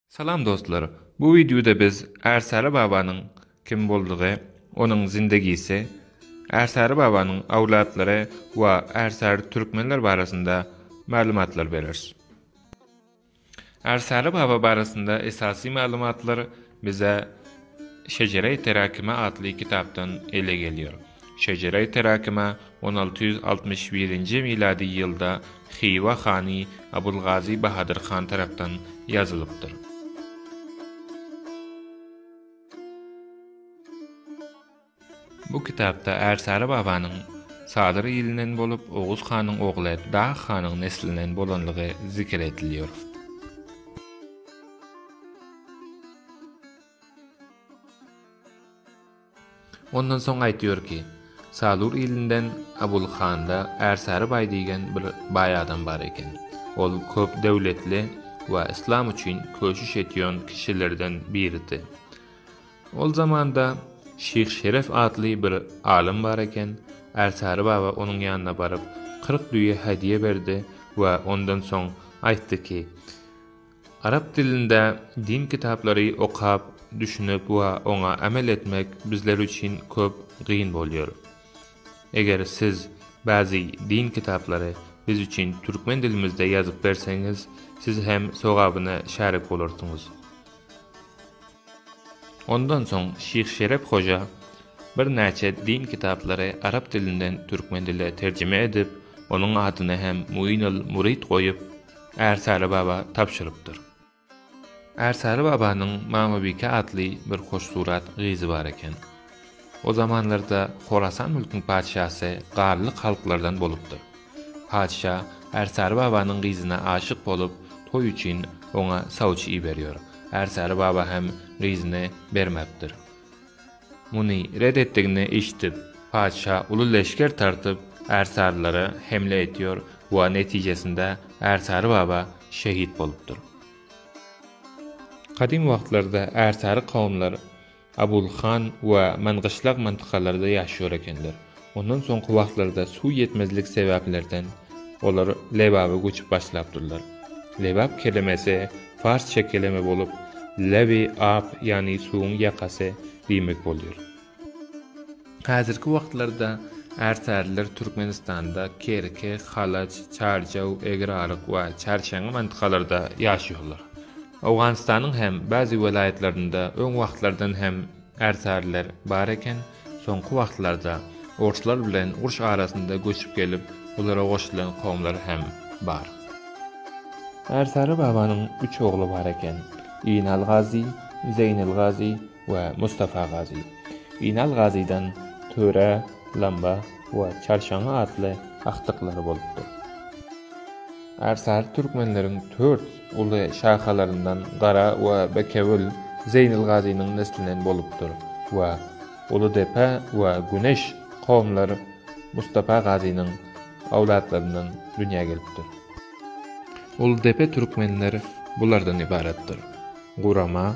Salam dostlar! Bu wideoda biz Ärsäri babanyň kim boldugy, onuň zindegisi, Ärsäri babanyň owlatlary we Ärsäri türkmenler barasynda maglumatlar bereris. Ärsäri baba barasynda esasy maglumatlar Bize Şejere-i Terakime atly kitapdan ele gelýär. Şejere-i Terakime on alty ýüz altmyş birinji milady ýylda Hywa hany Abulgazy Bahadyr han tarapdan ýazylypdyr. Bu kitapda Ärsary babanyň Sadyr ilinden bolup, Oguz hanyň ogly Dag hanyň neslinden bolanlygy zikr edilýär. Ondan soň aýtýar ki, Sadur ilinden Abul handa Ärsary baý diýgen bir baý adam bar eken. Ol köp döwletli we yslam üçin köşüş etýän kişilerden biridi. Ol zamanda Şyh Şeref atly bir alym bar eken, Ärsary baba onuň ýanyna baryp, kyrk düýe hädiýe berdi we ondan soň aýtdy ki, Arap dilinde din kitaplary okap, düşünip we oňa amel etmek bizler üçin köp gyn bolýar. Eger siz bäzi din kitaplary biz üçin türkmen dilimizde ýazyp berseňiz, siz hem sogabyna şärik bolarsyňyz. Ondan soň Şyh Şerep hoja birnäçe din kitaplary arap dilinden türkmen diline terjime edip, onuň adyny hem Muinul Murid goýup, Ärsaly baba tabşyrypdyr. Ärsaly babanyň Mamabike atly bir hoşsurat gyzy bar eken. O zamanlarda Horasan mülküň patyşasy Gallyk halklardan bolupdyr. Patyşa Ärsary babanyň gyzyna aşyk bolup, toý üçin oňa sawçy iberýär. Ärsary baba hem gyzyny bermäpdir. Muny ret etdigini eşidip, patyşa uly leşger tartyp, ärsarylara hemle etýär we netijesinde Ärsary baba şehit bolupdyr. Gadym wagtlarda ärsary kowumlar Abul han we men gyşlak mantykalaryda ýaşýar ekenler. Ondan soňky wagtlarda suw ýetmezlik sebäplerden olar Lebaba göçüp başlapdyrlar. Lebap kelemesi farsça keleme bolup, Lebi-ab ýagny suwuň ýakasy diýmek bolýar. Häzirki wagtlarda ärsarylar Türkmenistanda Kerki, Halaç, Çarjaw, Egraryk we Çarşengi mantykalaryda ýaşaýarlar. Owganystanyň hem bäzi welaýatlarynda öň wagtlardan hem ärsarylar bar eken, soňky wagtlarda orslar bilen uruş arasynda göçüp gelip, olara goşulan kowumlar hem bar. Ärsary babanyň üç ogly bar eken, Inal Gazy, Zeýnal Gazy we Mustafa Gazy. Inal Gazydan Töre, Lamba we Çarşaňňy atly agtyklary bolupdyr. Ärsary türkmenleriň tört uly şahalaryndan Gara we Bekewül Zeýnil Gazynyň neslinden bolupdyr we Uludepe we Güneş kowumlary Mustafa Gazynyň owlatlaryndan dünýä gelipdir. Uludepe türkmenleri bulardan ybaratdyr, Gurama,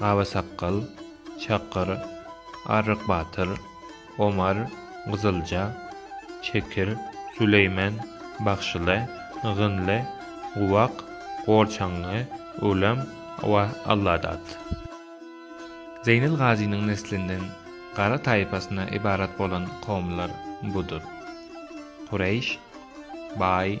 Baba sakgal, Çakyr, Arryk batyr, Omar, Gyzylja, Çekir, Süleýmen, Bagşyly, Ygynly, Guwak, Gorçaňňy, Ölem we Alladat. Zeýnel Gazynyň neslinden gara taýpasyna ybarat bolan kowumlar budur, Kureýş, Baý,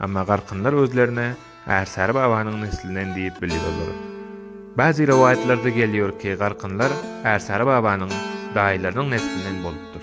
Emma garkynlar özlerine Ärsary babanyň neslinen diýip bilýärler. Bäzi rowaýatlarda gelýär ki, garkynlar Ärsary babanyň daýylarynyň neslinden bolupdyr.